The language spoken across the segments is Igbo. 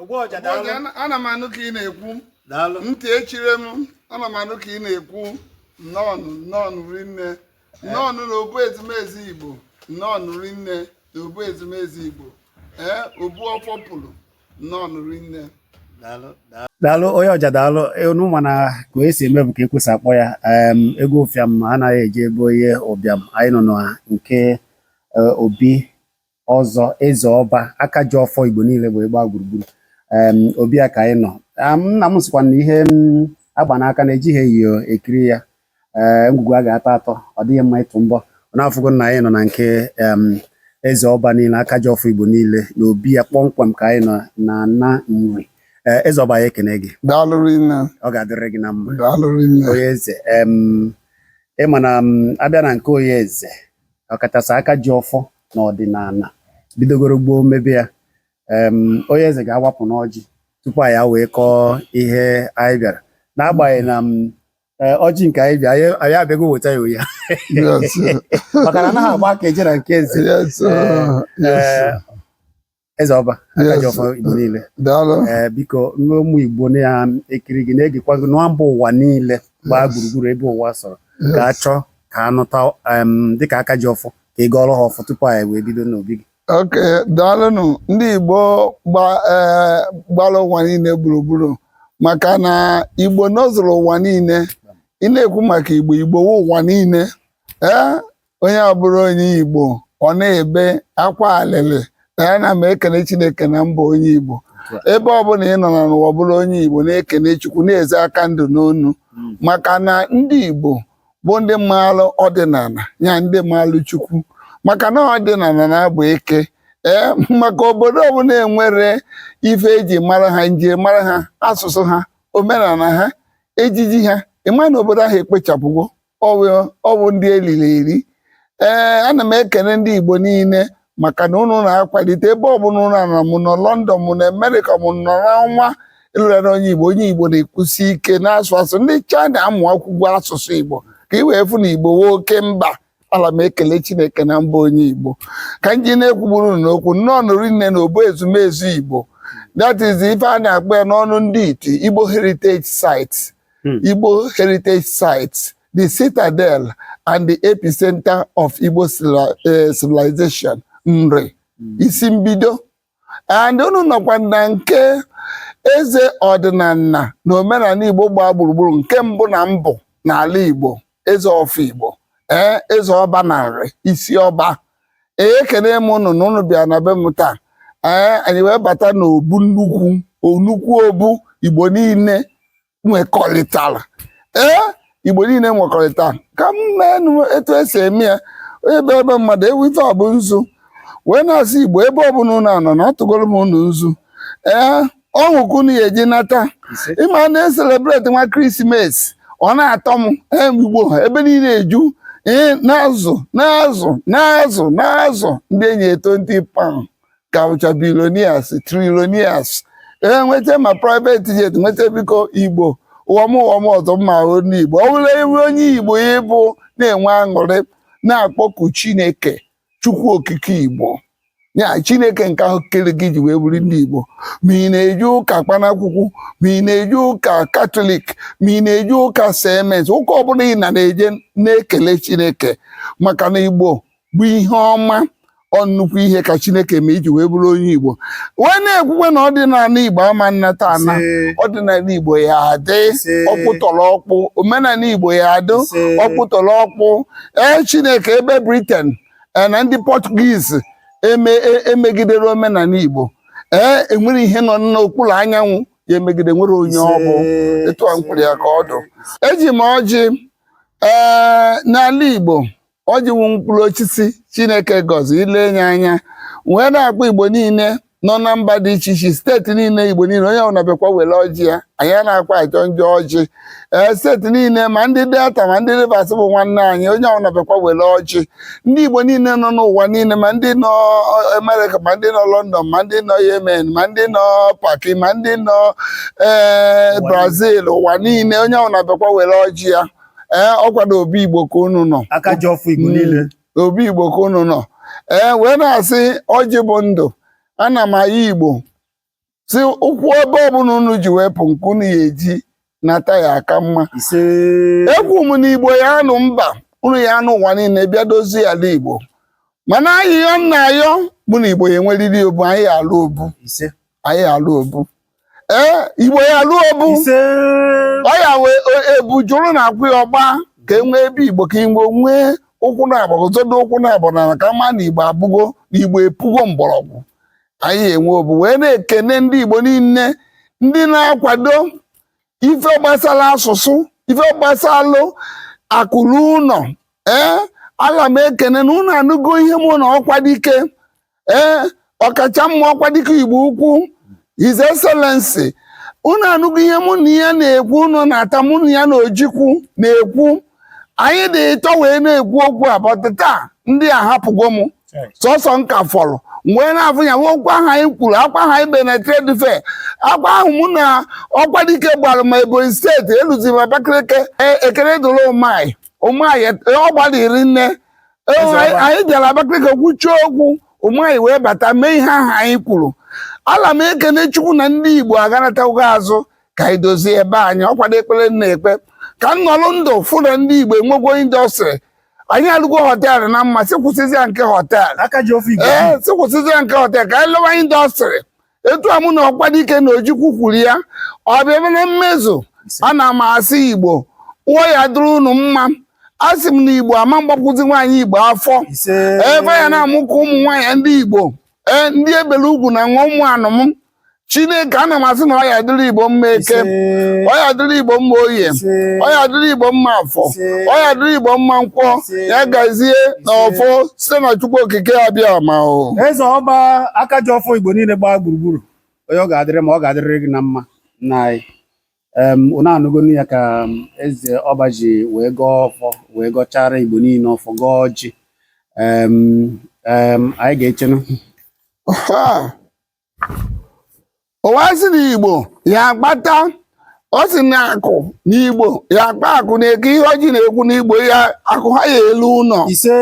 Ogbuọja daalụ. Ogbuọja, ana- ana m anụ ka ị na-ekwu Daalụ. ntị echirọ m ana m anụ ka ị na-ekwu nnọọ nnọọ rinne nnọọ na obu ezumezu igbo nnọọ rinne na obu ezumezu igbo ee obu ọfọ pụlụ nnọọ rinne Daalụ. Daalụ. daalụ onye ọja daalụ unu ma na ka onye si eme bụ ka ekwe si akpọ ya em, egwu ụfịam anaghị eje be onye ụbịam anyị nọ na nke eh, obi ọzọ eze ọba aka ji ọfọ igbo niile igbo gbaa gburugburu obi ya ka anyị nọ nna m sịkwa na ihe agba n'aka na ejighị enyo ekiri ya ee ngwugwu a ga-atọ atọ ọ dịghị mma ịtụ mbọ unu afụgo na anyị nọ na nke eze ọba niile aka ji ọfọ igbo niile na obi ya kpọmkwem ka anyị nọ na na nri eze ọba anyị ekene gị ọ ga-adịrị gị na mma onye eze ị ma na a bịa na nke onye eze ọkachasị aka ji ọfọ na ọdịnala bidogoro gboo mebe ya onye eze ga-awapụ n'ọjị tupu anyị wee kọọ ihe anyị bịara n'agbanyeghị na e, ọjị nke anyị bịa anyị abịago weta ya ụnyaa maka na anaghị agba aka eje na nke eze eze ọba aka ji ọfọ igbo niile ee biko ụmụ igbo na-ekiri gị na-egekwa gị na mba ụwa niile gbaa gburugburu ebe ụwa sọrọ ga-achọ ka a nụta dịka aka ji ọfọ ka ị gọọrọ ha ọfọ tupu anyị wee bido n'obi gị okay daalụnụ ndị igbo gbara ụwa niile gburugburu maka na igbo nọzụrụ ụwa niile ị na-ekwu maka igbo igbo wụ ụwa niile ee onye abụrọ onye Igbo ọ na-ebe akwa alịlị na ya na m ekele Chineke na m bụ onye Igbo ebe ọ bụla ị nọ na n'ụwa bụrụ onye Igbo na-ekele Chukwu na-eze aka ndụ n'ọnụ hmm. maka na ndị Igbo bụ ndị maalụ ọdịnala ya ndị maalụ Chukwu maka na ọdịnala na-abụ ike ee maka obodo ọbụla enwerọ ife eji mara ha njirimara ha asụsụ ha omenala ha ejiji ha ị ma na obodo ahụ ekpochapụgo ọwụ ndị eriri eri ee ana m ekene ndị Igbo niile maka na ụnụ na-akwalite ebe ọbụla ụnụ nọ ma ụnụ nọ London ma ụnụ nọ Amerịka ma ụnụ nọ n'ọnwa ị bụrụ onye Igbo onye Igbo na-ekwusi ike na-asụ asụ ndị China amụ akwụkwọ asụsụ Igbo ka ị wee fụ na Igbo wụ oke mba ana m ekele Chineke na m bụ onye Igbo ka m ji na-ekwugburu n'okwu nnọọ rinne na obu ezumezu Igbo that is ife a na-akpọ ya n'ọnụ ndị iti Igbo Heritage Sites hmm. Igbo Heritage Sites, the Citadel and the Epicenter of Igbo eh, Civilization, Nri, hmm. isi mbido. And unu nọkwa na nke eze ọdịnala na omenala Igbo gbaa gburugburu nke mbụ na mbụ n'ala Igbo. eze ọfọ igbo ee eze ọba na nri isi ọba ee ekene m ụnụ na ụnụ bịa na be m taa ee anyị wee bata n'obu nnukwu onukwu obu igbo niile nwekọrịtara ee igbo niile nwekọrịta ka m meenụ etu esi eme ya onye bịa ebe mmadụ ewete ọbụ nzu wee na-asị igbo ebe ọbụla ụnụ anọ na atụgoro m ụnụ nzu ee ọṅụ ka unu ya eji nata Ise. ị ma a na-eselebreti nwa christmas ọ na-atọ m em igbo ha ebe niile eju ee na-azụ na-azụ na-azụ na-azụ ndị enyere twenty pound ka bụcha billionaires trillionaires ee nweta ma private jet nweta biko igbo ụwa m ụwa m ọzọ m ya abụ onye igbo ọ bụla ebe onye igbo ị bụ na-enwe aṅụrị na-akpọku chineke chukwu okike igbo ya chineke nke ahụ kere gị ji wee bụrụ ndị igbo ma ị na-eje ụka kpanakwụkwụ ma ị na-eje ụka katọlik ma ị na-eje ụka cms ụka ọbụla ị na na-eje na-ekele chineke maka na igbo bụ ihe ọma ọ nnukwu ihe ka chineke me iji wee bụrụ onye igbo wee na-ekwukwe na ọdịnala igbo ama nnata ana ọdịnala igbo ya adị ọkpụtọrọ ọkpụ omenala igbo ya adị ọkpụtọrọ ọkpụ ee chineke ebe britain ee na ndị portuguese eme e- emegidere omenala igbo ee enwerọ ihe nọ n'okpuru anyanwụ ya emegide enwerọ onye ọ bụ etu a m kwuru ya ka ọ dụ eji m ọjị ee n'ala igbo ọjị wụ mkpụrụ osisi chineke gọzili nye anyị wee na-akpọ igbo niile nọ na mba dị iche iche steeti niile igbo niile onye ọbụla bịakwa were ọjị ya anyị anakwa ajọ njọ ọjị ee steeti niile ma ndị delta ma ndị rivers bụ nwanne anyị onye ọbụla bịakwa were ọjị ndị igbo niile nọ n'ụwa niile ma ndị nọ amerịka ma ndị nọ london ma ndị nọ yemen ma ndị nọ paki ma ndị nọ ee brazil ụwa niile onye ọbụla bịakwa were ọjị ya ee ọ kwado obu igbo ka unu nọ aka ji ọfọ igbo niile obu igbo ka unu nọ ee wee na-asị ọjị bụ ndụ ana m ayọ igbo sị ụkwụ ebe ọbụla unu ji wee pụ nke unu ya eji nata ya aka mma ise ekwu m na igbo ya anụ mba unu ya anụ ụwa niile bịa dozie ala igbo mana ayịyọ m na-ayọ bụ na igbo ya enweriri obu anyị ya alụ obu ise anyị ya alụ obu ee igbo ya alụ obu ise ọya wee ebu jụrụ na akwụ ya ọgba ka e nwee ebe igbo ka igbo nwee ụkwụ naabọ zọdo ụkwụ naabọ n'ana ka a ma na igbo abụgo na igbo epugo mgbọrọgwụ anyị ya enwe obu wee na-ekene ndị igbo niile ndị na-akwado ife gbasara asụsụ ife gbasalụ akụ ruo ụlọ ee ana m ekene na ụnụ anụgo ihe mụ na ọkwadike ee ọkacha mma ọkwadike igbo ukwu his excellency ụnụ anụgo ihe mụ na ya na-ekwu ụnụ na-ata mụ na ya na ojukwu na-ekwu anyị dị ịtọ wee na-ekwu okwu a but taa ndị a hapụgo m sọsọ m ka fọrọ wee na-afụ ya nwe okwu ahụ anyị kwuru akwa ahụ anyị be na trade fair akwa ahụ mụ na Ọkwadike gbara ma ebonyi steeti eluzi m abakaliki E- ekele dịrị Umahi Umahi ọ gbalịrị nne E, Eze anyị- ọba. anyị bịara abakaliki kwuchie okwu Umahi wee bata mee ihe ahụ anyị kwuru ala m ekene chukwu na ndị igbo aghanatago azụ ka anyị dozie ebe anyị ọ kwa ekpere m na-ekpe ka m nọrọ ndụ fụ na ndị Igbo enwego indọstrị anyị alụgo họteelụ na mma sị kwụsịzịa nke họteelụ aka ji ọfọ Igbo ee sị kwụsịzịa nke họteelụ ka anyị lụwa indọstrị etu a mụ na Ọkwadike na Ojukwu kwuru ya ọ bịa ebe na mmezu ana m asị Igbo ọ ya-adịrị unu mma asị m na Igbo ama mgbakwụzi nwaanyị Igbo afọ ise ebe ya na-amụ ka ụmụ nwaanyị ndị Igbo ee ndị ebele ugwu na nwa ụmụ anụm chineke ana m asị na ọ ya-adịrị igbo mma eke ọ ya-adịrị igbo mma oye ọ ya-adịrị igbo mma afọ ọ ya-adịrị igbo mma nkwọ ya gazie na ọfọ site na chukwu okike abịama o eze ọba aka ji ọfọ igbo niile gbaa gburugburu onye ọ ga-adịrị mma ọ ga-adịrịrị gị na mma na anyị unu anụgonụ ya ka eze ọba ji wee gọọ ọfọ wee gọchara igbo niile ọfọ gọọ ọjị anyị ga-echenụ ụwa sị na igbo ya-akpata ọ sị na akụ na igbo ya-akpa akụ nekwa ihe ọjị na-ekwu na igbo ya akụ ha ya-elu ụlọ ise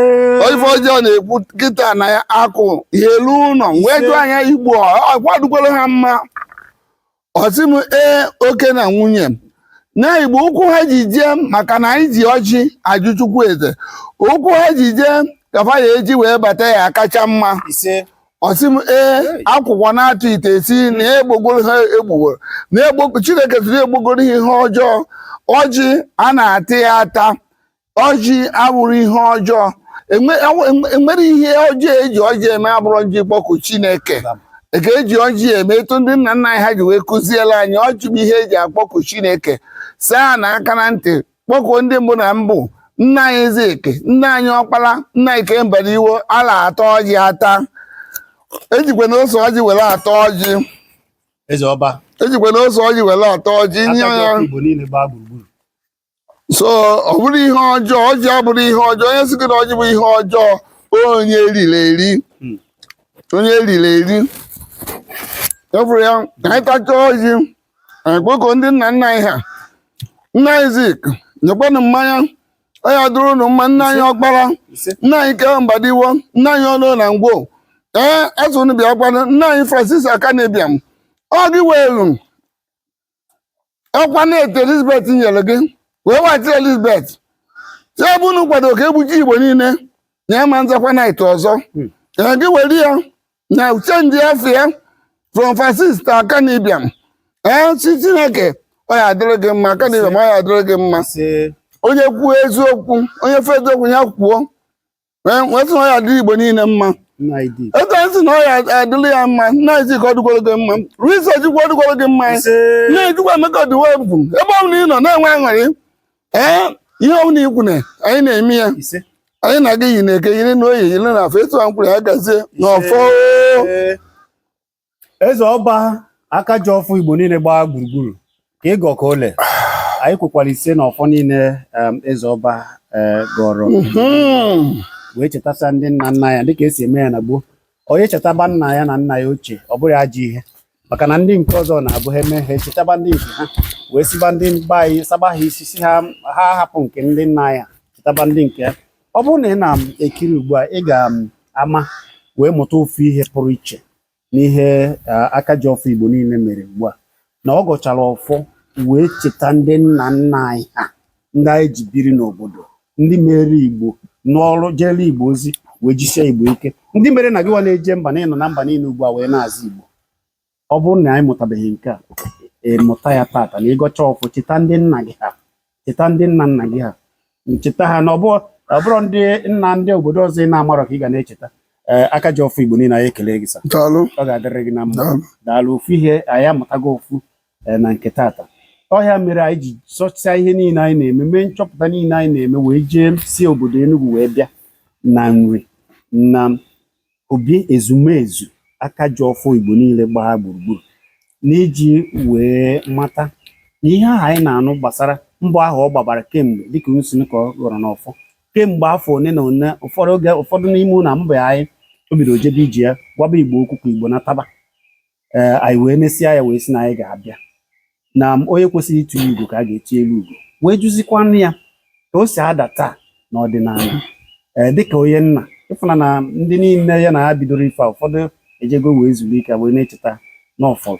ife ọjị na-ekwu kịta na ya akụ ya-elu ụlọ wee Ise. jụọ anya igbo ọ ga-adịkwara ha mma ọ sị m ee oke na nwunye na igbo ụkwụ ha ji jee maka na anyị ji ọjị ajụ chukwu eze ụkwụ ha ji jee ka fa ya-eji wee bata ya kacha mma ise ọ sị m ee akwụkwọ na-atụ ite si na egbogoro ha egbogoro na egbo chineke siri egbogoro ha ihe ọjọọ ọjị a na-ata ya ata ọjị abụrọ ihe ọjọọ Enwe- enwe- enwe- enwerọ ihe ọjọọ eji ọjị eme abụrọ iji kpọkuo chineke ka eji ọjị eme etu ndị nna nna anyị ha ji wee kụziela anyị ọjị bụ ihe eji akpọku chineke saa na aka na ntị kpọkuo ndị mbụ na mbụ nna anyị Zik nna anyị ọkpara nna anyị K.O. Mbadiwe ala ata ọjị ata ejikwa na ose ọjị were ata ọjị eze ọba ejikwa na ose ọjị were ata ọjị nye aka ji ọfọ igbo niile gbaa gburugburu so ọ bụrọ ihe ọjọọ ọjị abụrọ ihe ọjọọ onye sị gị na ọjị bụ ihe ọjọọ onye eriri eri hmm. onye eriri eri efụrụ ya ka anyị tachaa ọjị anyị kpọkuo ndị nna nna anyị ha nna anyị Zik nyekwanụ mmanya ọ ya-adịrị unu mma nna anyị ọkpara nna anyị K.O. Mbadiwe nna anyị Onoh na Ngwo ee asị unu bịakwanụ nna anyị Francis Akanu Ibiam ọ gị weelu ọkwa knight elizabeth nyere gị wee wechiri elizabeth sị ebe unu kwado ka egbucha igbo niile na ya ma nzakwa knight ọzọ ee gị were ya na chenji afa ya from francis to Akanu Ibiam ee sị chineke ọ ya adịrị gị mma Akanu Ibiam ọ ya adịrị gị mma Asị, onye kwuo eziokwu onye fụ eziokwu ya kwuo wee sị na ọ ya adịrị Igbo niile mma ego nsị na ọ ya adịrị ya mma nna Zik ọ dịgworo gị mma risa ojikwa ọ dịgworo gị mma nna ejikwa emeka Odumegwu ebe ọ bụla ị nọ na-enwe aṅụrị ee ihe ọ bụla i kwu na anyị na-eme ya anyị na-aga iyi na eke yiri na oye yiri na afọ etu a nkwọ ya gazie n'ọfọ eze ọba aka ji ọfọ igbo niile gbaa gburugburu ka ị gọ ka o lee anyị kwekwara ise na ọfọ niile em, eze ọba eh, gọrọ Mhm. wee chetasịa ndị nna nna ya dịka e si eme ya na gboo onye chetaba nna ya na nna ya ochie ọ bụrọ ajọ ihe maka na ndị nke ọzọ na-abụ ha eme ha echetaba ndị nke ha wee siba ndị mba anyị saba ha isi sị ha ha hapụ nke ndị nna ya chetaba ndị nke ọ bụrụ na ị na-ekiri ugbu a ị ga-ama wee mụta ofu ihe pụrụ iche n'ihe aka ji ọfọ Igbo niile mere ugbu a na ọ gọchara ọfọ wee cheta ndị nna nna anyị ha ndị anyị ji biri n'obodo ndị mere Igbo nọrọ jeere Igbo ozi wee jisie Igbo ike ndị mere na gịwa na-eje mba na ị nọ na mba niile ugbu a wee na-aza Igbo ọ bụrụ na anyị mụtabeghị nke a ị mụta ya tata na ị gọcha ọfọ cheta ndị nna gị ha cheta ndị nna nna gị ha cheta ha na ọ bụ- ọ bụrọ ndị nna ndị obodo ọzọ ị na-amarọ ka ị ga na-echeta ee aka ji ọfọ igbo niile anyị ekele gị sa daalụ ọ ga-adịrị gị na mma daalụ daalụ ofu ihe anyị amụtago ofu eh, na nke tata ọ ya mere anyị ji sọchaa ihe niile anyị na-eme mee nchọpụta niile anyị na-eme wee jee si obodo Enugu wee bịa na Nri na obi ezumezu aka ji ọfọ Igbo niile gbaa gburugburu n'iji wee mata na ihe ahụ anyị na-anụ gbasara mbọ ahụ ọ gbabara kemgbe dịka nsị ka ọ gọrọ n'ọfọ kemgbe afọ one na one ụfọdụ oge ụfọdụ n'ime na mba anyị o bidoro jebe iji ya gwaba Igbo okwu ka Igbo nataba ee anyị wee mesịa ya wee sị na anyị ga-abịa na onye kwesịrị ịtụ ugo ka a ga-eti elu ugo wee jụzikwanụ ya ka o si ada taa n'ọdịnala ee dịka onye nna ị fụ na na ndị niile ya na ha bidoro ife a ụfọdụ ejego wee zuru ike wee na-echeta n'ọfọ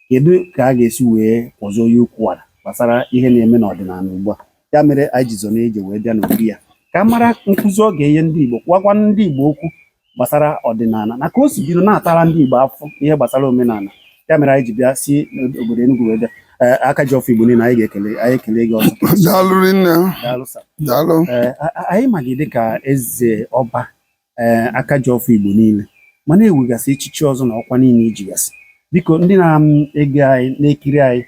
kedu ka a ga-esi wee kwụzie onye okwu wara gbasara ihe na-eme n'ọdịnala ugbu a ya mere anyị ji zọ na ije wee bịa n'obi ya ka a mara nkụzi ọ ga-enye ndị Igbo gwakwa ndị Igbo okwu gbasara ọdịnala na ka o si bido na-atara ndị Igbo afụ ihe gbasara omenala ya mere anyị ji bịa si obodo Enugu wee bịa eh, aka ji ọfọ Igbo niile anyị ga-ekele anyị ekele gị ọzọ daalụ rinne daalụ sa daalụ ee eh, anyị ma gị dịka eze ọba ee eh, aka ji ọfọ Igbo niile mana e nwegasị echichi ọzọ na ọkwa niile i jigasị biko ndị na-ege anyị na-ekiri anyị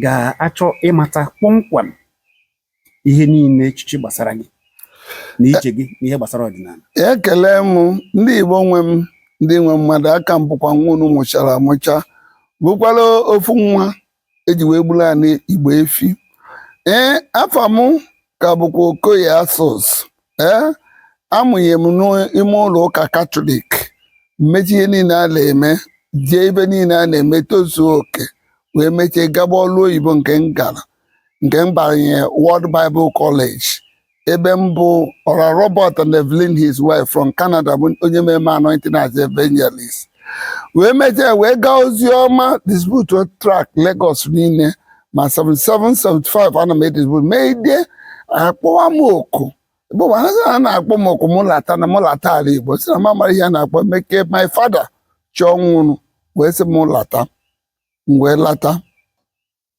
ga-achọ ịmata kpọmkwem ihe niile echichi gbasara gị na ije gị na ihe gbasara ọdịnala ekele m ndị Igbo nwe m ndị nwe mmadụ a ka m bụkwa nwa unu mụchara amụcha bụkwara ofu nwa e ji wee gburu anị Igbo efi ee afa mụ ka bụkwa Okoye Asos ee a mụnye m n'ime ụlọ ụka katọlik m mechaa ihe niile a na-eme jee ibe niile a na-eme tozuo oke wee mechaa gaba ọlụ oyibo nke m gara nke m banye World Bible College ebe mbụ Oral Roberts and Evelyn his wife from Canada bụ onye mere m anointing as evangelist wee mechaa wee gaa ozi ọma distribute tract Lagos niile ma 77 75 ana m edistribute meide a kpọwa m oku bụ ma ha na-akpọ m oku mụ lata na mụ lata ala Igbo sị na m amara ihe a na-akpọ meke my father chọọ nwụrụ wee sị m lata m wee lata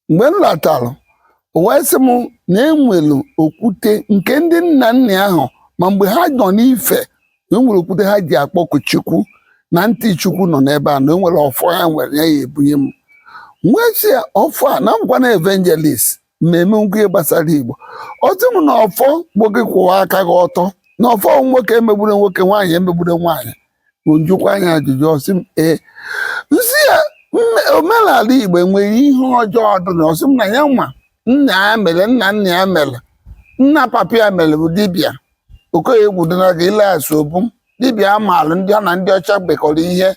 mgbe m latalụ o wee sị m na e nwere okwute nke ndị nna nna ya ahụ ma mgbe ha nọ n'ife na o nwere okwute ha ji akpọku chukwu na ntị chukwu nọ n'ebe a na o nwere ọfọ ha nwere ya ya-ebunye m m wee sị ya ọfọ a na m bụkwanụ evangelist mmemme ngwa ihe gbasara Igbo ọ sị m na ọfọ bụ gị kwụwa aka gị ọtọ na ọfọ nwoke emegbule nwoke nwaanyị emegbule nwaanyị m jụkwaa ya ajụjụ ọ sị m ee m sị ya omenala Igbo nwere ihe ọjọọ dị na ya ọ sị m na ya nwa nna ya mere nna nna ya mere nna papa ya mere bụ dibịa Okoye Egwudona ga ileghasị ọ bụ dibịa a maalụ ndị ọ na ndị ọcha mekọrọ ihe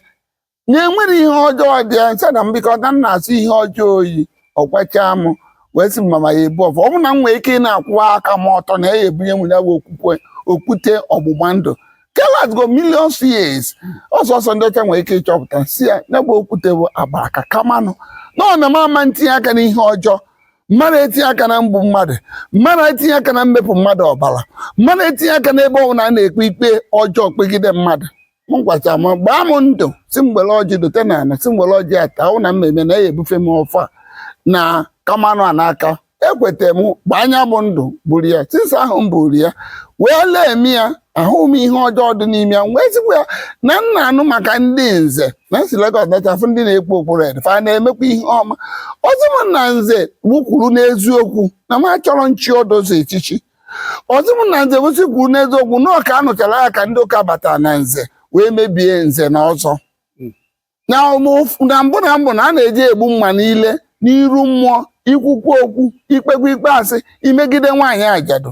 na enwerọ ihe ọjọọ dị ya m sị ya nna m biko na m na-asọ ihe ọjọọ oyi ọ gwachaa m wee sị m ma m ya-ebu ọfọ ọ bụ na m nwere ike ịna-akwụwa aka m ọtọ na ya ebunye m ya bụ okwukwe okwute ọgbụgba ndụ ke lastgo millions years ọ sọsọ ndị ọcha nwere ike ịchọpụta si ya ya bụ okwute bụ agbara ka Kamanụ na ọ na m ama etinye aka n'ihe ọjọọ mmadụ etinye aka na mgbu mmadụ mmadụ etinye aka na mmepụ mmadụ ọbara mmadụ etinye aka n'ebe ọbụla a na-ekpe ikpe ọjọọ kpegide mmadụ ọ gwacha m gbaa m ndụ sị m were ọjị dote n'ana sị m were ọjị ata ahụ na m mee na ya ebufe m ọfọ na Kamanụ a n'aka ekweta m gbaa ya bụ ndụ buru ya since ahụ m buru ya wee lee m ya ahụ m ihe ọjọọ dị n'ime ya m wee sịkwa ya na m na-anụ maka ndị nze na m si Lagos nata fụ ndị na-ekpu okpu red fa na-emekwa ihe ọma ọ sị m na nze bụ kwụrụ n'eziokwu na m achọrọ nchi odozi echichi ọzọ bụ na nze gosi kwuru n'eziokwu na ọka anụchara ya ka ndị ụka batara na nze wee mebie nze na ọzọ na ụmụ- na mbụ na mbụ na a na-eji egbu mma niile n'iru mmụọ ikwukwa okwu ikpekwa ikpe asị imegide nwaanyị ajadu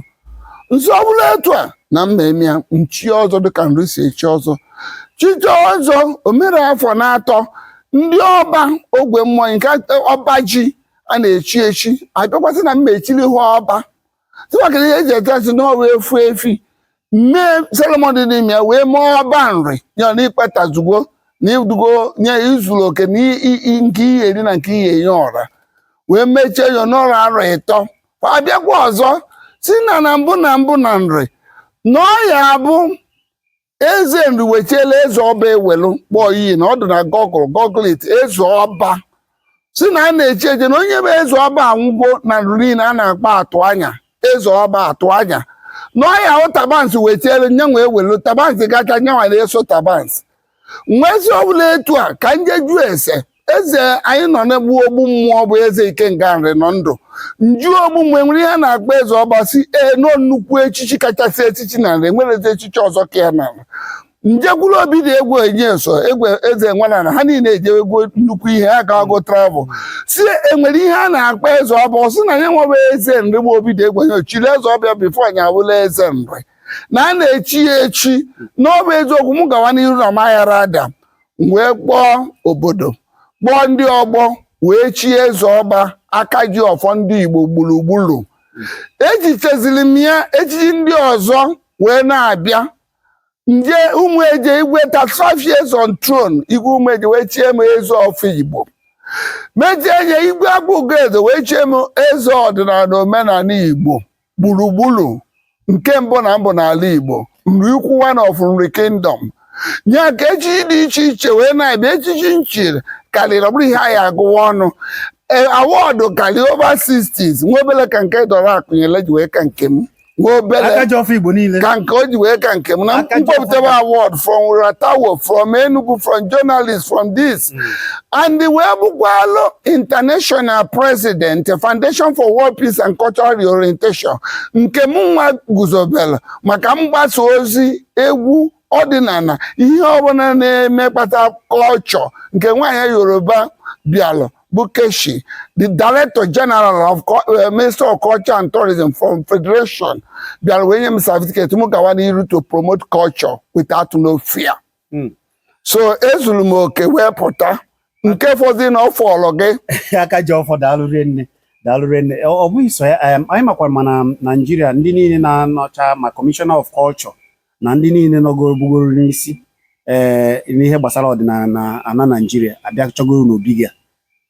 nsọ ọ bụla etu a na mmemme ya nchi ọzọ dịka nri si echi ọzọ chiche ọzọ omere afọ na-atọ ndị ọba ogwe mmụọ nke ọba ji a na-echi echi abịakwa sị na mma echiri ha ọba tụwakịrị ihe eji ete nsị n'ọwa efu efi mee ceremony dị n'ime ya wee mee ọba nri ya na ikpatazugo na idugo onye zuru oke na i- i- i- nke ihe eri na nke ihe enye ọra wee mechie ya nọrọ arọ ịtọ abịakwa ọzọ si na na mbụ na mbụ na nri na ọ ya abụ eze nri wechiela eze ọba ewelu kpọọ iyi na ọ dị na Google google it eze ọba si na a na-echi echi na onye bụ eze ọba anwụgo na nri niile a na-akpa atụ anya eze ọba atụ anya na ọya hụ tabansi wee chielu nyanwa ewelu tabansi gacha nyanwa na-eso tabansi nwezi ọbụla etu a ka m jee jụọ ese eze anyị nọ mgbe ahụ Ogbummụọ bụ eze ikenga nri nọ ndụ m jụọ Ogbummụọ enwere ihe a na-akpọ eze ọba sị ee na ọ nnukwu echichi kachasị echichi na nri nwere eze echichi ọzọ ka ya n'ala m jekwuru Obidiegwu Onyeso igwe eze Enweleana ha niile ejewegwo nnukwu ihe ha gawago travel si enwere ihe a na-akpọ eze ọba ọ sị na ya nwebe eze nri bụ Obidiegwu onye chiri eze ọba before anyị abụla eze nri na a na-echi ya echi na ọ bụ eziokwu m gawa n'iru na maghara ada wee kpọọ obodo kpọọ ndị ọgbọ wee chie eze ọba aka ji ọfọ ndị Igbo gburugburu echichaziri m ya echichi ndị ọzọ wee na-abịa m jee Ụmụeje igwe ta 12 years on throne igwe Ụmụeje wee chie m eze ọfọ Igbo mejie nye igwe Akpụgoeze wee chie m eze ọdịnala omenala Igbo gburugburu nke mbụ na mbụ n'ala Igbo nri ukwu one of nri kingdom ya ka echichi dị iche iche wee na-abịa echichi m chiri karịrị ọ bụrọ ihe anyị agụwa ọnụ e, award karịa over 60s nwa obele ka nke Dora Akunyili ji wee ka nke m nwa obele ka nke o ji wee ka nke m na m kpọpụtabe award from RATTAWU from Enugu from journalist from this and wee bụkwalụ international president Foundation for World Peace and Cultural Reorientation nke m nwa guzobere maka mgbasa ozi egwu ọdịnala ihe ọbụla na-emekpata culture nke nwaanyị Yoruba bịalụ bụ Keshi the director general of eh, minister of culture and tourism from federation bịara wee nye m certificate m gawa n'iru to promote culture without no fear hmm. so ezuru m oke wee pụta nke fọzi na ọfọlụ gị aka ji ọfọ daalụ rinne daalụ rinne ọ bụghị so ya anyị makwara ma na naijiria ndị niile na-anọcha ma kọmishọna of kọlchọ na ndị niile nọgoro bugoro n'isi ee eh, n'ihe gbasara ọdịnala n'ana naijiria abịachagoro n'obi gị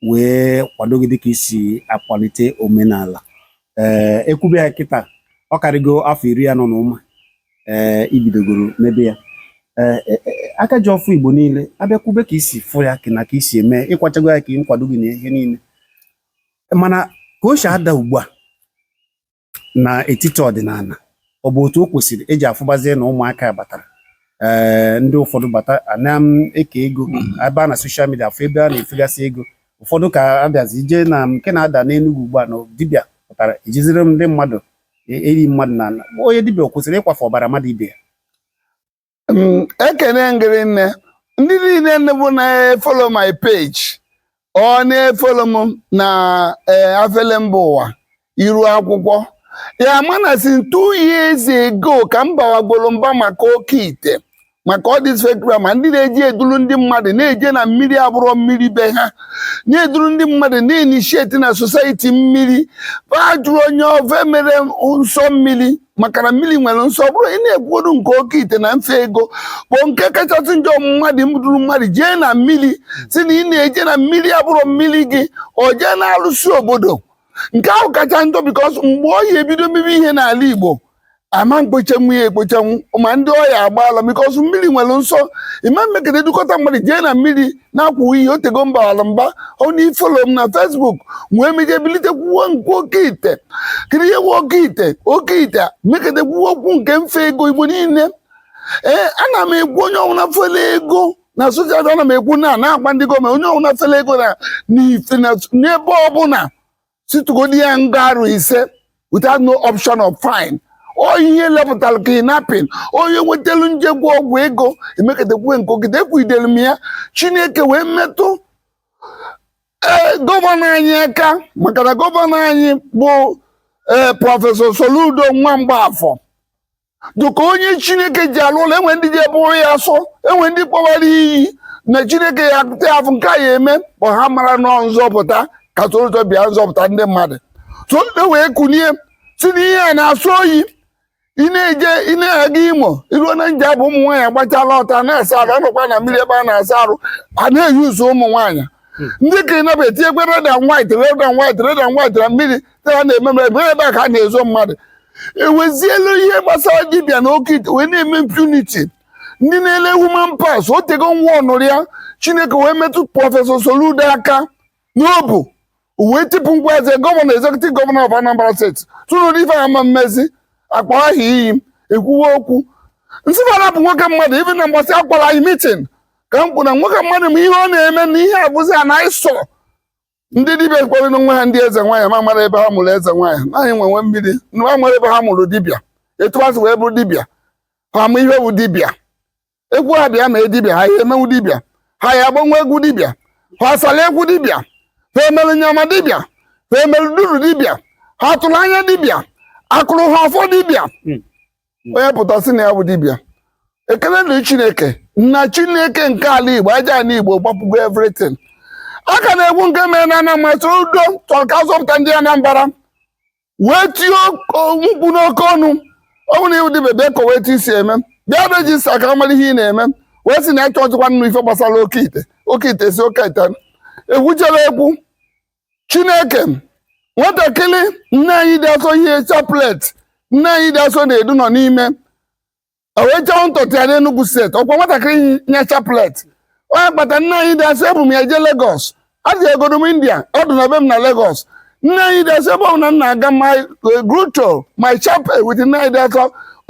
wee kwado gị dịka i si akwalite omenala ee eh, e kwube ya kịta ọ karịgo afọ iri anọ na ụma ee eh, i bidogoro mebe ya ee eh, aka ji ọfọ igbo niile a bịa kwube ka i si fụ ya na ka i si eme ịkwachago ya ka ị nkwado gị na ihe niile mana ka o si ada ugbu a n'etiti ọdịnala ọ bụ otu o kwesịrị eji a fụbazie na ụmụaka batara ee ndị ụfọdụ bata ana m eke ego ebe a na soshal midia a fụ ebe a na-efegasị ego ụfọdụ ka a bịazie jee na nke na-ada n'Enugu ugbu a na dibịa pụtara ejiziri ndị mmadụ e, eli mmadụ n'ana onye dibịa o kwesịrị ịkwafu ọbara mmadụ ibe ya Mm, ekene m gị rinne ndị niile nne bụ na-efolo my page ọ na-efolo m na eh, afele mba ụwa iru akwụkwọ ya-ama na since two years ago ka m bawagoro mba maka oke ite maka all this fake drama ndị na-eji eduru ndị mmadụ na-eje na mmiri abụrọ mmiri be ha na-eduru ndị mmadụ na-enishieti na society mmiri ba ajụrọ onye ofe mere nsọ mmiri maka na mmiri nwere nsọ ọ bụrụ ị na-ekwuoru nke oke ite na mfe ego bụ nke kachasị njọ mmadụ nduru mmadụ jee na mmiri sị na ị na-eje na mmiri abụrọ mmiri gị o jee n'alụsị obodo nke ahụ kacha njọ bikos mgbe ọ ya-ebido mebi ihe n'ala Igbo ama mkpochanwu ya ekpochanwu ma ndị ọ ya-agba ala bikos mmiri nwere nsọ ịma mekete dukọta mmadụ jee na mmiri na-akwụ iyi o tego m baala mba onye na-efolo m na fesbuk nwee meje bilite kwuwe nke oke ite kiri ihe oke ite oke ite mekete kwuwe okwu nke mfe ego igbo niile ee ana m ekwu onye ọbụla fele ego na soshal midia ana m ekwu na na-agwa ndị gọọmenti onye ọbụla fele ego na n'ife na n'ebe ọbụla sị tụgodi ya nga arọ ise without no option of fine ọ ihe wepụtara kidnapping ọ ihe wetelu njekwu ọgwụ ego emekete kwuwe nkwugide ekwugidere m ya chineke wee metụ ee gọvanọ anyị aka maka na gọvanọ anyị bụ ee prọfesọ soludo nwa mgbafọ dịka onye chineke ji alụ ọlụ e nwee ndị je bụrụ ya asọ e nwee ndị kpọwara iyi na chineke ya akụta ya afụ nke a ya eme kpọ ha amarọ na ọ nzọpụta ka soludo bịa nzọpụta ndị mmadụ soludo wee kunie sị na ihe a na-asọ oyi ị na-eje ị na-aga imo i ruo na njaba ụmụ nwaanyị agbachala ọtọ na-asa arụ anọkwa na mmiri ebe a na-asa arụ a na-eyi ụzọ ụmụ nwaanyị ndị ka ị nabata e tinye akwa red and white red and white red and white na mmiri a na-eme m ebe ebe a ka a na-ezo mmadụ ewezielu ihe gbasara dibịa na oke ite wee na-eme impunity ndị na-ele human parts o tego nwa ọnụrụ ya chineke wee metụ prọfesọ soludo aka n'obu wee tipụ ngwa eze gọvanọ executive gọvanọ of anambra steeti tụrụ ife ama mmezi akpa ahụ iyi ekwuwe okwu nsịbara bụ nwoke mmadụ ife na mgbasị akwara anyị mitin ka m kwuru na nwoke mmadụ ma ihe ọ na-eme na ihe abụzi a na ịsọ ndị dibịa kpọrọ nwa ha ndị eze nwaanyị ma mara ebe ha mụrụ eze nwaanyị naanị nwe nwe mmiri ma mara ebe ha mụrụ dibịa etu ha si wee bụrụ dibịa ha ma ihe bụ dibịa ekwu ha bịa mee dibịa ha ya emenwu dibịa ha ya agbanwu egwu dibịa ha asala egwu dibịa ha emere nyama dibịa ha emere duru dibịa ha tụrụ anya dibịa akụrụ ha ọfọ dibịa onye pụta sị na ya bụ dibịa ekele dịrị chineke na chineke nke ala igbo aja ala igbo gbapụgo everything a ka na-egwu nke mere na anambra soludo chọrọ ka a zọpụta ndị anambra wee tie o- mkpu n'oke ọnụ ọ bụrụ na ị bụ dibịa bịa kọwa etu i si eme bịa rejista ka a mara ihe ị na-eme wee sị na ya achọghịkwa ịnụ ife gbasara oke ite oke ite si oke ite egwuchara egwu chineke nwatakịrị nne anyị dị asọ yi chaplet nne anyị dị asọ na-edu nọ n'ime o wee chọpụta ya n'Enugu steeti ọkwa nwatakịrị yi chaplet ọ ya kpata nne anyị dị asọ ebu m ya jee Lagos adị egodo m India ọ dị na be m na Lagos nne anyị dị asọ ebe ọbụla m na-aga my eh, grotto my chapel with nne anyị dị asọ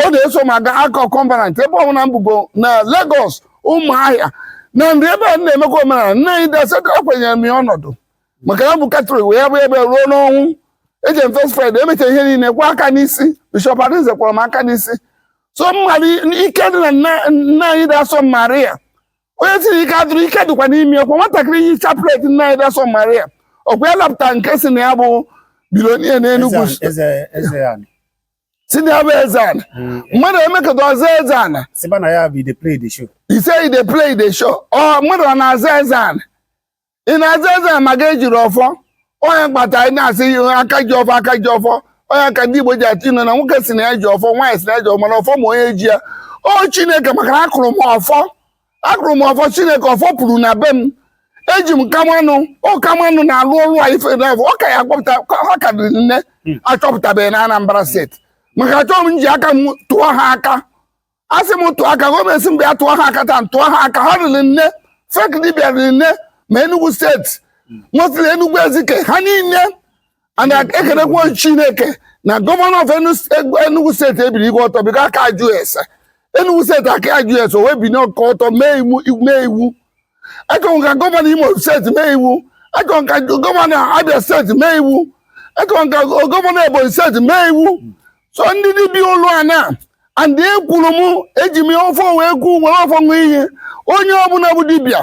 ọ na-eso m aga ark of covenant ebe ọbụla m bugo na Lagos ụmụahịa na ndị ebe a na-emekwa omenala nne anyị dị asọ ekwenyere m ya ọnọdụ maka ya bụ katọlik wee ya bụ ebe ruo n'ọnwụ eji m first friday emecha ihe niile kwa aka n'isi bishọp arinze kwara m aka n'isi so m ma ụdị ike dị na nne nne anyị dị asọ maria onye tiri ike adụrụ ike dịkwa n'ime ọkwa nwatakịrị yi chaplet nne anyị dị asọ maria ọkwa ya lapụta nke sị na ya bụ bilonia n'enugwu Eze- eze eze anị sị na ya bụ eze ana mm. mmadụ emekata ọ zaa eze ana ise e dey play e dey show ọ mmadụ ọ na-aza eze ana ị na-aza eze ana ma ga-ejiri ọfọ ọ ya kpata anyị na-asị aka ji ọfọ aka ji ọfọ ọ ya ka ndị Igbo ji atụ inu na nwoke sị na ya ji ọfọ nwaanyị sị na ya ji ọfọ mana ọfọ ma onye ji ya ọ Chineke maka na akụrụ m ọfọ akụrụ m ọfọ chineke ọfọ puru na be m eji m kamanụ ọ kamanụ na-alụ ọrụ a ife na ọ ka ya akpọpụta ha ka riri nne achọpụtabeghị na anambra steeti maka achọghị m ji aka m tụọ ha aka a sị m tụọ aka gọọmenti sị m bịa tụọ ha aka taa tụọ ha aka ha riri nne fake dibịa riri nne ma enugu steeti nwetara enugu ezike ha niile and ekelekwa chineke na gọvanọ of enugu steeti ebinigo ọtọ bido aka ajụ ese enugu steeti aka ajụ ese o wee biniekwa ọtọ mee iwu achọrọ ka gọvanọ imo steeti mee iwu achọrọ ka gọvanọ abia steeti mee iwu achọrọ ka gọvanọ ebonyi steeti mee iwu so ndị dibịa ụlọ a na and ekwuru m eji m ọfọ wee kwuo were ọfọ ṅụọ iyi onye ọbụla bụ dibịa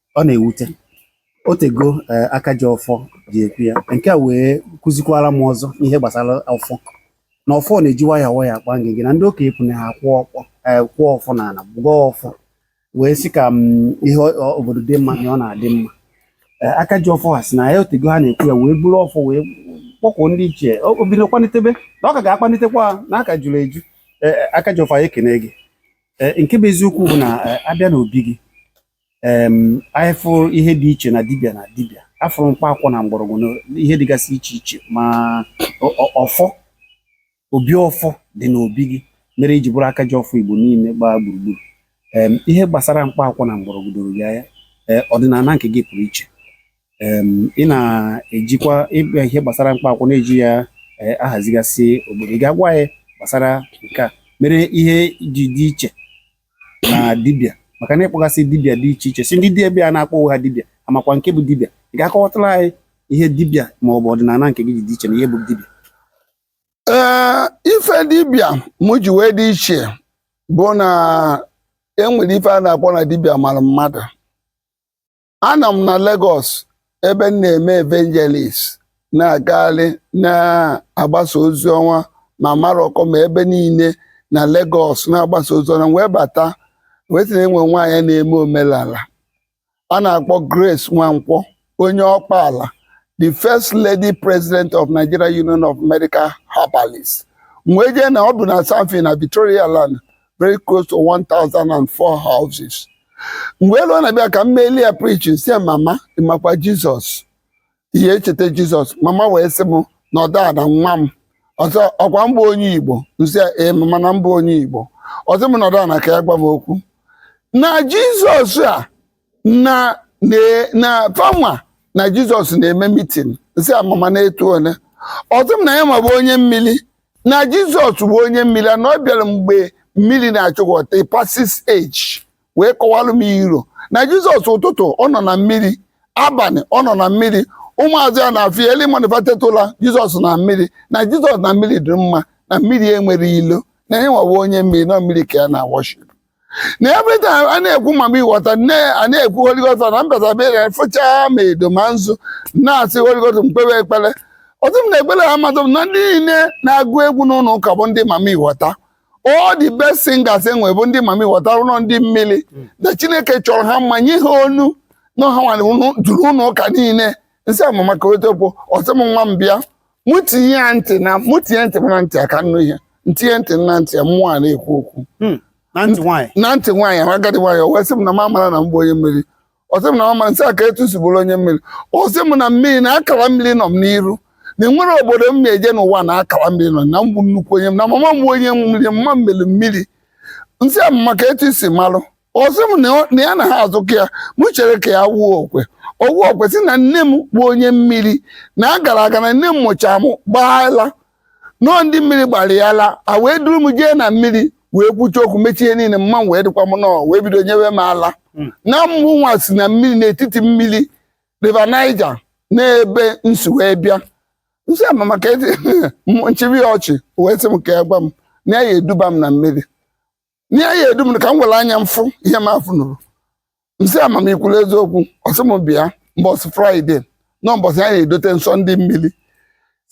ọ na-ewute otego eh, aka ji ọfọ ji ekwu ya nke a wee kụzikwara m ọzọ ihe gbasara ọfọ na ọfọ na-eji waya waya akpa ngịgị na ndị okenye ekwu na ha kwụ ọkpọ eh, kụọ ọfọ n'ala wee gọọ ọfọ wee sị ka mm, ihe ọ- ọ- obodo dị mma na ọ na-adị mma Eh, aka ji ọfọ ha sị na ya otego ha na-ekwu ya wee buru ọfọ wee kpọkuo ndị ichie O- o bido kpanitebe na ọ ka ga-akpanitekwa ha na aka juru eju Eh, eh, aka ji ọfọ anyị ekene gị Eh, nke bụ eziokwu bụ na eh, abịa n'obi gị anyị fụrụ ihe dị iche na dibịa na dibịa afụrụ mkpa akwụkwọ na mgbọrọgwụ na ihe dịgasị iche iche ma ọfọ obi ọfọ dị n'obi gị mere i ji bụrụ aka ji ọfọ igbo niile gbaa gburugburu ihe gbasara mkpa akwụkwọ na mgbọrọgwụ doro gị anya e, ọdịnala nke gị pụrụ iche ị na-ejikwa ịbịa ihe gbasara mkpa akwụkwọ na-eji ya e, ahazigasị obodo ị ga-agwa anyị gbasara nke a mere ihe i ji dị iche na dibịa maka na ị kpọgasịa dibịa dị iche iche sị ndị dibịa a na-akpọ ha dibịa amakwa nke bụ dibịa ị ga-akọwatụrụ anyị ihe dibịa ma ọ bụ ọdịnala nke gị ji dị iche na ihe bụ dibịa ee ife dibịa mụ ji wee dị iche bụ na enwere ife a na-akpọ na dibịa mara mmadụ anọ m na Lagos ebe m na-eme evangelist na-agagharị na-agbasa ozi ọma ma Maroko ma ebe niile na Lagos na-agbasa ozi ọma wee bata wee sị na enwe nwaanyị na-eme omenala a na-akpọ Grace Nwankwọ onye Ọkpala the first lady president of Nigeria Union of Medical Herbalists wee jee na o bu na Sandfill na Victoria Island very close to 1,004 houses m wee luo na be ya ka m meelụ ya preaching sị ya mama ị makwa jizọs ị na-echeta jizọs mama wee sị m nọdụ ana nwa m ọ sị ọkwa m bụ onye igbo m sị ya ee mama na m bụ onye igbo ọ sị m nọdụ ana ka ya gwa m okwu na jizọs a na na na fanwa na jizọs na-eme mitin sị ya mama n'etu ole ọ sị m na yanwa bụ onye mmiri na jizọs bụ onye mmiri na ọ bịara mgbe mmiri na-achịkọta Pisces age wee kọwalụ m ihe na jizọs ụtụtụ ọ nọ na mmiri abalị ọ nọ na mmiri ụmụazụ ya na-afụ ya eli manifatetụla jizọs na mmiri na jizọs na mmiri dị mma na mmiri enwerọ ilo na yanwa bụ onye mmiri na mmiri ka ya na-worship na every time a na-ekwu mami wọta nne a na-ekwu Holy Ghost na m bata be ya fụchaa ma edo ma nzu na-asị Holy Ghost m kpewe ekpere ọ sị m na-ekpere ha mmadụ m na ndị niile na-agụ egwu n'ụlọ ụka bụ ndị mami wọta all the best singers e nwe bụ ndị mami wọta rụrọ ndị mmiri na Chineke chọrọ ha mma nye ha onu na ha nwere unu- juru ụlọ ụka niile m sị ya mama ka otokpo ọ sị m nwa m bịa mụ tinye ya ntị na mụ tinye ntị m na ntị ya ka m nụ ihe m tinye ntị m na ntị ya mmụọ a na-ekwu okwu Hmm. na ntị nwaanyị na ntị nwaanyị ahụ agadi nwaanyị o wee sị m na m amara na m bụ onye mmiri ọ sị m na m amara m sị ya ka etu si bụrụ onye mmiri ọ sị m na mmiri na akara mmiri nọ m n'iru na e nwere obodo m na-eje n'ụwa na akara mmiri nọ na m bụ nnukwu onye m na mama m bụ onye mmiri mma m mere mmiri m sị ya mama ka etu i si malụ ọ sị m na ya na ha azụkọ ya m chere ka ya wuo okwe o wuo okwe sị na nne m bụ onye mmiri na a gara aga na nne m mụcha m gbaa ala na ọọ ndị mmiri gbara ya ala e wee duru m jee na mmiri wee kwuchaa okwu mechaa ihe niile mma m wee dịkwa mma o wee bido nyewe m ala hmm. na mụnwa si na mmiri n'etiti mmiri River Niger n'ebe m si wee bịa m sị ya mama ka m chịbe ya ọchị wee sị m ka ya gwa m na ya eduba m na mmiri na ya edu m ka m were anya m fụ ihe m afụnụrọ m sị ya mama i kwuru eziokwu ọ sị m bịa mbọsị fraịde na mbọsị ya na-edote nsọ ndị mmiri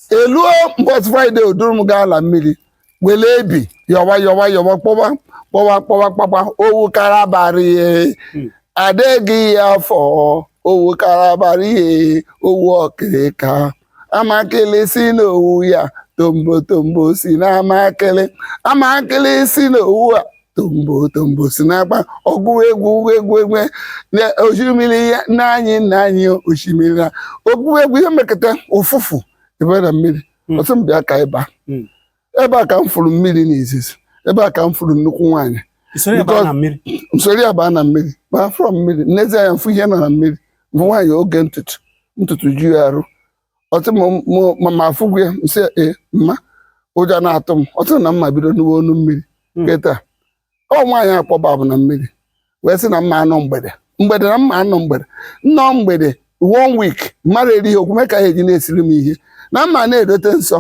e luo mbọsị fraịde o duru m gaa ala mmiri were ebi yọwa yọwa yọwa kpọwa kpọwa kpọwa kpakpa owu karabara ihe adịghị ya afọ owu karabara ihe owu ọkịrịka amakịlị si n'owu ya tombo tombo si n'amakịlị amakịlị si n'owu a tombo tombo si n'akpa ọgụ egwu egwu egwu na osimiri ya nna anyị nna anyị osimiri na ọgụ egwu ihe mekata ụfụfụ ebe na mmiri Mm. ọ sị m bịa ka ị ba Mm. ebe a ka m fụrụ mmiri n'izizi ebe a ka m fụrụ nnukwu nwaanyị I soro ya baa na mmiri. m soro ya baa na mmiri baa afọ mmiri m nezie anya m fụ ihe nọ na mmiri bụ nwaanyị oge ntutu ntutu ju ya arụ ọ sị m- m- ma m afụgo ya m sị ya, ee mma ụjọ na-atụ m ọ sị na m ma-ebido nụwe onu mmiri Hmm. kịta ọ nwaanyị a kpọba mụ na mmiri wee sị na m ma-anọ mgbede mgbede na m ma-anọ mgbede m nọọ mgbede one week mmadụ erighị okwu mee ka ha eji na-esiri m ihe na m ma na-edote nsọ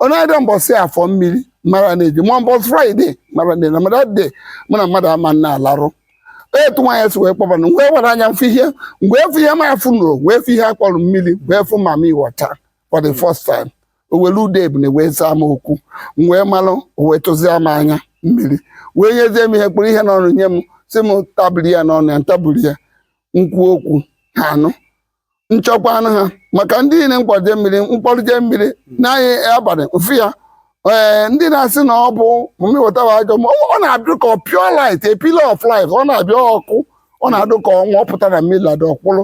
onye adị mbọsị afọ mmiri mara na-eji ma mbọsị fraịde mara na na mara de mụ na mmadụ ama na-alarụ etu nwaanyị si wee kpọbana wee were anya m fụ ihe mgbe efu ihe m afụnụrọ wee fụ ihe a kpọrọ mmiri wee fụ mami wọta for the hmm. first time o were ude ebune wee zaa m okwu m wee malụ o wee tụzie m anya mmiri wee nyezie m ihe kpụrụ ihe n'ọnụ nye m si m tabiri ya n'ọnụ ya ntabiri ya nkwu okwu ha anụ nchọkwa anụ ha maka ndị niile nkwaje mmiri mkpọrụje mmiri hmm. n'anyị abalị m fụ ya ee ndị na-asị na ọ bụ mami wata ajọ ma ọ na-abịa ka pure light a pillar of light ọ na-abịa ọkụ ọ na-adị ka ọnwa ọ pụta na mmiri lada ọ kwụrụ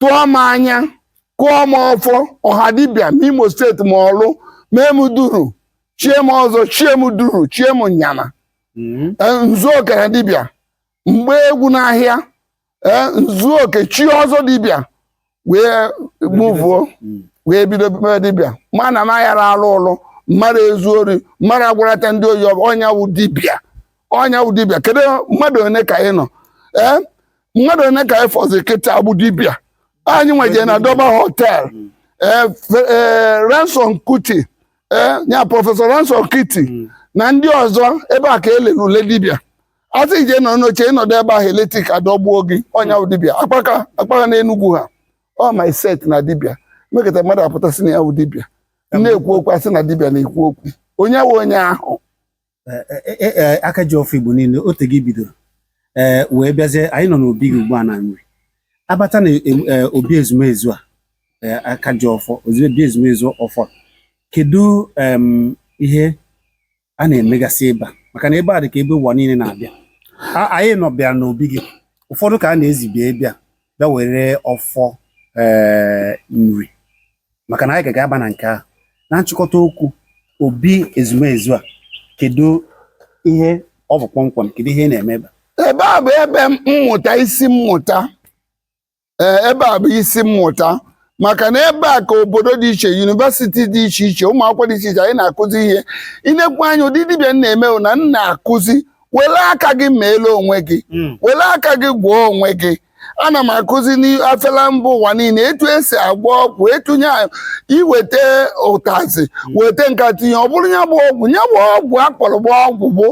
tụọ m anya kụọ m ọfọ ọha dibịa n'Imo steeti ma Ọlụ mee m duru chie m ọzọ chie m duru chie m nyama Mm. Eh, nzu oke na dibịa m gbaa egwu n'ahịa eh, nzu oke chie ọzọ dibịa wee mụvuo Mm. wee bido mee dibịa mana m aghara alụ ụlụ mmadụ ezu ori mmadụ agwarata ndị oyibo onye wụ dibịa onye wụ dibịa kedu mmadụ one ka ị nọ ee mmadụ one ka anyị fọzi kịta abụ dibịa anyị wee je na Durbar Hotel ee, fe- ee, Ransome Kuti ee, ya prọfesọ Ransome Kuti na ndị ọzọ ebe a ka e lere ule dibịa asị i je nọ n'oche ị nọdụ ebe ahụ eletrik adọgbuo gị onye bụ dibịa akpaka akpaka na Enugwu ha ọ my set na dibịa mekata mmadụ apụta sị na ya bụ dibịa na-ekwu okwu asị na dibịa na-ekwu okwu onye wụ onye ahụ ee aka ji ọfọ Igbo niile o tego i bidoro ee wee bịazie anyị nọ n'obi gị ugbu a na Nri abata na obi ezumezu a aka ji ọfọ obi ezumezu ọfọ kedu ihe a na-emegasị ebe a maka na ebe a dị ka ebe ụwa niile na-abịa anyị nọ bịara n'obi gị ụfọdụ ka a na-ezi bịa bịa were ọfọ Nri maka na anyị ga ga-aba na nke ahụ na nchịkọta okwu obi ezumezu a kedu ihe ọ bụ kpọmkwem kedu ihe ị na-eme ebe a? ebe a bụ ebe mmụta isi mmụta ee ebe a bụ isi mmụta maka na ebe a ka obodo dị iche yunivesiti dị iche iche ụmụ akwụkwọ dị iche iche anyị na-akụzi ihe i nekwa anya ụdị dibịa m na-eme bụ na m na-akụzi were aka gị meelu onwe gị hmm. were aka gị gwọọ onwe gị ana m akụzi na-afela mba ụwa niile etu esi agwọ ọgwụ etunye i weta ụtazi hmm. weta nke a tinye ọ bụrụ ya bụ ọgwụ ya bụ ọgwụ akpọrọ bụ ọgwụ bụ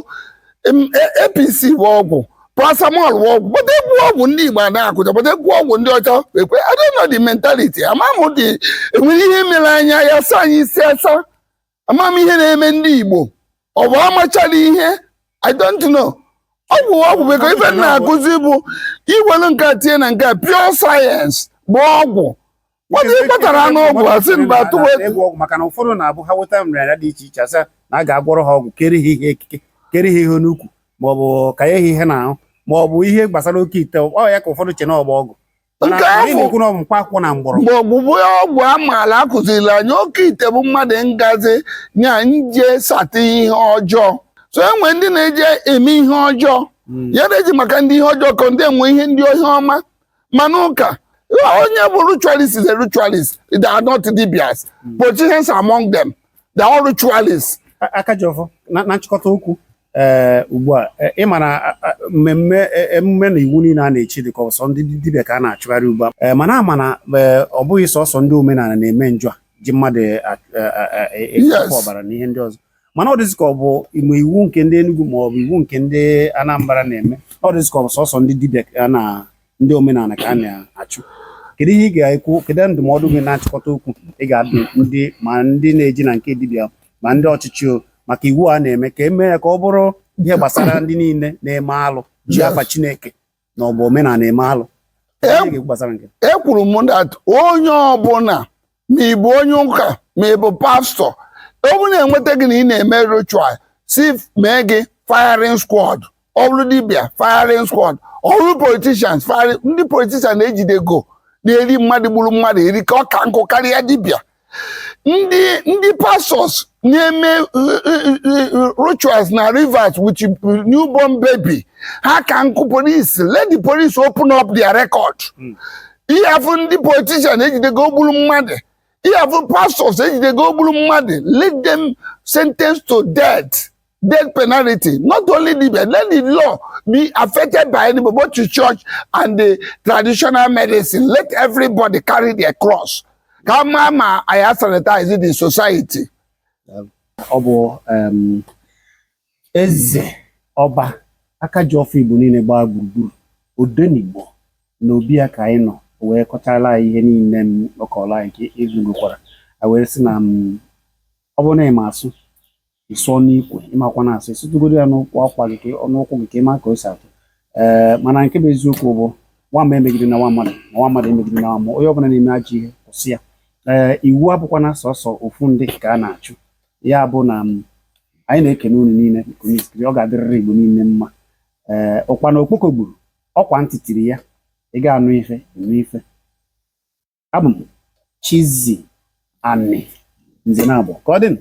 APC e, bụ ọgwụ paracetamol bụ ọgwụ but e kwuo ọgwụ ndị Igbo na-akụja but e kwuo ọgwụ ndị ọcha ekwe I don't know the mentality ama m dị enwere ihe mere anyị ya sa anyị isi asa ama m ihe na-eme ndị Igbo ọ bụ amachara ihe I don't know ọ bụ ọgwụ bekee ife m na-akụzi bụ i welu nke a tinye na nke a pure sayensị bụ ọgwụ nwata ị kpatara anụ ọgwụ asị mba tụwa ịgwọ ọgwụ maka na ụfọdụ na-abụ ha weta nrịanrịa dị iche iche asị na a ga-agwọrọ ha ọgwụ kere ha ihe ekike kere ha ihe n'ukwu ma ọ bụ kanye ha ihe n'ahụ ma ọ bụ ihe gbasara oke ite ọ ya ka ụfọdụ che na ọ bụ ọgwụ nke afọ mgbọrọgwụ bụ ọgwụ amaala akụzirila anyị oke ite bụ mmadụ ngazi nya nje sata ihe ọjọọ so e nwe ndị na-eji eme ihe ọjọọ hmm. ya na-eji maka ndị ihe ọjọọ ka ndị enwe ihe ndị ihe ọma mana ụka onye bụ ritualist is a ritualist they are not dibias hmm. politicians among them they are all ritualists. aka ji ọfọ na nchịkọta okwu ee eh, ugbu a eh, ị mara mmemme eh, emume na iwu niile a na-echi dịka ọ bụ sọ ndị dibịa ka a na-achụgharị ugbu a mana a ma na ọ bụghị sọsọ ndị omenala na-eme njọ a ji mmadụ ekpọ ọbara na ihe ndị ọzọ mana ọ dịzị ka ọ bụ iwu nke ndị Enugu ma ọ bụ iwu nke ndị Anambra na-eme ọ dịzị ka ọ bụ sọsọ ndị dibịa ka a na ndị omenala ka a na-achụ kedu ihe ị ga-ekwu kedu ndụmọdụ gị na nchịkọta okwu ị ga-adụ ndị ma ndị na-eje na nke dibịa ma ndị ọchịchị maka iwu a na-eme ka e mee ya ka ọ bụrụ ihe gbasara ndị niile na-eme alụ ji afa Chineke ma ọ bụ omenala eme alụ gbasara nke ekwuru m that onye ọbụla ma ị bụ onye ụka ma ị bụ pastọ ọ bụrụ na e nweta gị na ị na-eme ritual sị mee gị firing squad ọ bụrụ dibịa firing squad ọ bụrụ politicians firing ndị politician ejidego na-eri mmadụ gburu mmadụ eri ka ọ ka nkụ karịa dibịa ndị ndị pastors na-eme rituals na rivers with newborn baby ha ka nkụ police let the police open up their record ị ya-afụ ndị politician ejidego gburu mmadụ ị ya-afụ pastors ejidego gburu mmadụ let them sentence to death death penalty not only dibịa let the law be affected by anybody both the church and the traditional medicine let everybody carry their cross ka a ma ma anyị sanitize the society ọ bụ Eze, Ọba, aka ji ọfọ Igbo niile gbaa gburugburu, Odenigbo na obi ya ka anyị nọ wee kọchaara anyị ihe niile ọ kọrọ anyị ka egwu gụkwara a wee sị na m ọ bụrụ na ị ma asụ ị sụọ n'ikwe ị makwana asụ ị sụtụgodu ya n'ụkwụ akwa gị ka ọ- n'ụkwụ gị ka ị ma ka o si atụ ee mana nke bụ eziokwu bụ nwa mmụọ emegidena nwa mmadụ ma nwa mmadụ emegidena nwa mmụọ onye ọbụla na-eme ajọ ihe kwụsị ya ee iwu abụkwana sọsọ ofu ndị ka a na-achụ ya bụ na m anyị na-ekene unu niile nke onye sikiri ọ ga-adịrịrị Igbo niile mma ee ụkpana okpoko gburu ọ kwa ntị tiri ya ị ga-anụ ife nụ ife abụ m Chizzy Ani nze na abụọ ka ọ dị nụ.